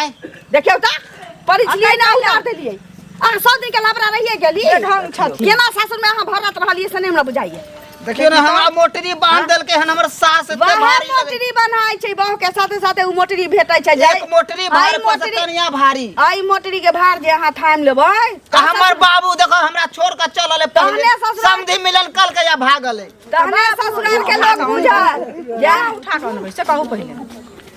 आय देखियौ तऽ परिचय ना उतार देलियै अहाँ सौ दिन के लबरा रहिए गेली ढंग छथि। केना सासुर में अहाँ भरत रहलियै से नहि हमरा बुझाइए देखियो ना हमरा मोटरी बांध देलके हन हमर सास एते बाहर भारी लगै मोटरी बनाय छै बहू के साथे साथे उ मोटरी भेटै छै छै। एक मोटरी भार आइ पर से मोटरी कनिया भारी आइ मोटरी के भार जे अहाँ थाम लेबै त हमर बाबू देखो हमरा छोड़ के चलल है पहले तहने ससुराल- समधी मिलन कल के या भागल है तहने ससुराल के लोग बुझल जा उठा कऽ अनबै से कहू पहिले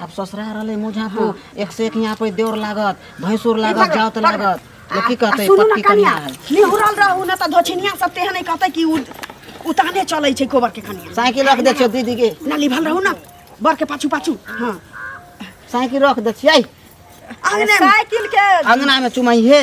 अब ससुरा रहले मुझापुर एक से एक यहाँ पर देवर लागत भैंसुर लागत जाओ तो लागत लोग की कहते सुनू पक्की ना कनिया कनिया है निहुरल रहू ना त धोछिनिया सब तेहन नहीं कहते कि उ- उताने चलै छै गोबर के कनिया साइकिल रख दे छियो दीदी के ना लिभल रहू ना बर के पाछू पाछू हाँ साइकिल रख दे छियै आंगने में साइकिल के अंगना में चुमाई है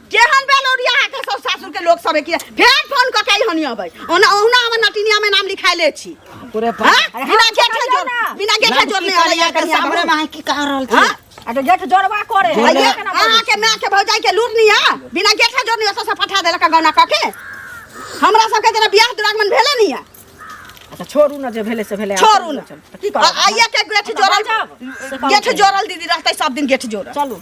केहन भेल ओरिया अहाँके सब सासुर के लोग सब की फेर फोन क के हनी अबै ओना ओहुना हमर नटिनिया में नाम लिखाइले छी पूरे हाँ? पर बिना गेट के जोड़ बिना गेट के जोड़ने वाली यहाँ के सामने में की कह रहल छी हाँ? आ तो गेट जोड़वा करे जोड़वा। अरे केना बोली? अहाँ के माँ के भौजाई के लूट निया बिना गेट के जोड़ने से फटा देलक गौना क के हमरा सब के जना बियाह दुरागमन भेले निया अच्छा छोड़ू ना जे भेले से भेले छोड़ू ना चल की आ- करब आइया के गेट जोड़ल जाब। गेट जोड़ल दीदी रहते सब दिन गेट जोड़ल चलू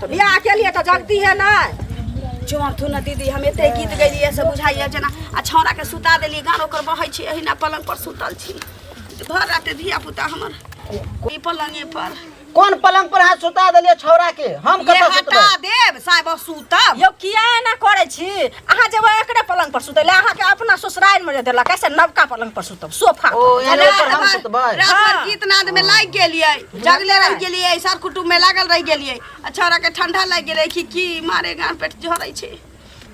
तो बियाह के लिए तो जगती है ना जोर तू ना दीदी हम एते गीत गैलिए से बुझाइए जेना आ छौड़ा के सुता देलिए गान ओकर बहै छी एहिना पलंग पर सुतल छी भर रात धिया पुता हमर ई पलंगे पर कोन पलंग पर हाथ सुता देलिए छौड़ा के हम ये कतऽ सुतबै हटा देब साहेब सुतब यो किया एना करै छी अहाँ जेबै एकरे पलंग पर सुतै ले अहाँके अपना ससुराल में जे देलक कैसे नवका पलंग पर सुतब सोफा ओ पर। एने ऊपर हम सुतबै रात भर गीत नाद में लागि गेलियै जगले रहि गेलियै सर कुटुम में लागल रहि गेलियै आ छौड़ा के ठंडा लागि गेलै कि की मारे गान पेट झरै छै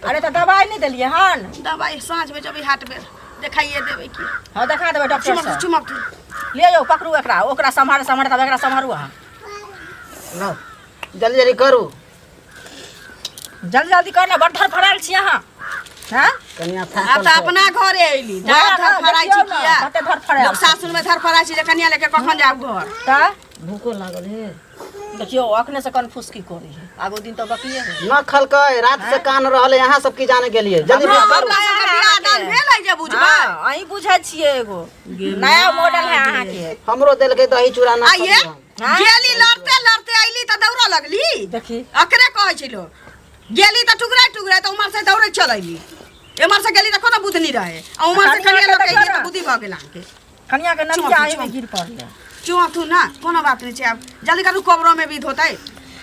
अरे तऽ दवाई नहीं देलियै हन दवाई साँझ में जबै हाट बेर देखाइए देबै की हाँ देखा देबै डॉक्टर चुमक साहब चुमक ले जाओ पकड़ू एकरा ओकरा सम्हार सम्हार तब एकरा सम्हारू अहाँ लो जल्दी जल्दी करू जल्दी जल्दी कर ना बड़ धर फड़ाल छी अहाँ हैं कनिया आब फाटल तऽ छै। अपना घरे अयली जा जा, धर फराइ छी देखियौ ने, किया कते धर फराइ लोक छै। सासुरमे धर फराइ छी जे कनिया लेके कखन जाउ घर तऽ भूखो लागल हे देखियौ अखने से कन फुसकी करी है आगो दिन तऽ बकिए है न खलकै रात से कान रहले यहाँ सब की जाने गेलिए जल्दी हमरा बात करू। हमरा सबके बियाह दान भेल है जे बुझबै हाँ, अहीं बुझै छियै एगो नया मॉडल है अहाँके हमरो देलकै दही चूड़ा ना आइये। खलियै हम। हाँ? गेली लड़ते लड़ते अइली त दौड़ा लगली देखी अकरे कहै छै लोग गेली त टुकड़ा टुकड़ा त उमर से दौड़े चल अइली एमर से गेली त कोनो बुधनी रहे आ उमर से कनिया कनिया लोग के अइली त देखा। बुद्धि भ गेल अहाँके कनिया के नदिया चुप, आए में चुप। गिर पड़ले चुआ तू ना कोनो बात नहीं छै अब जल्दी करू कोबरो में विध होतै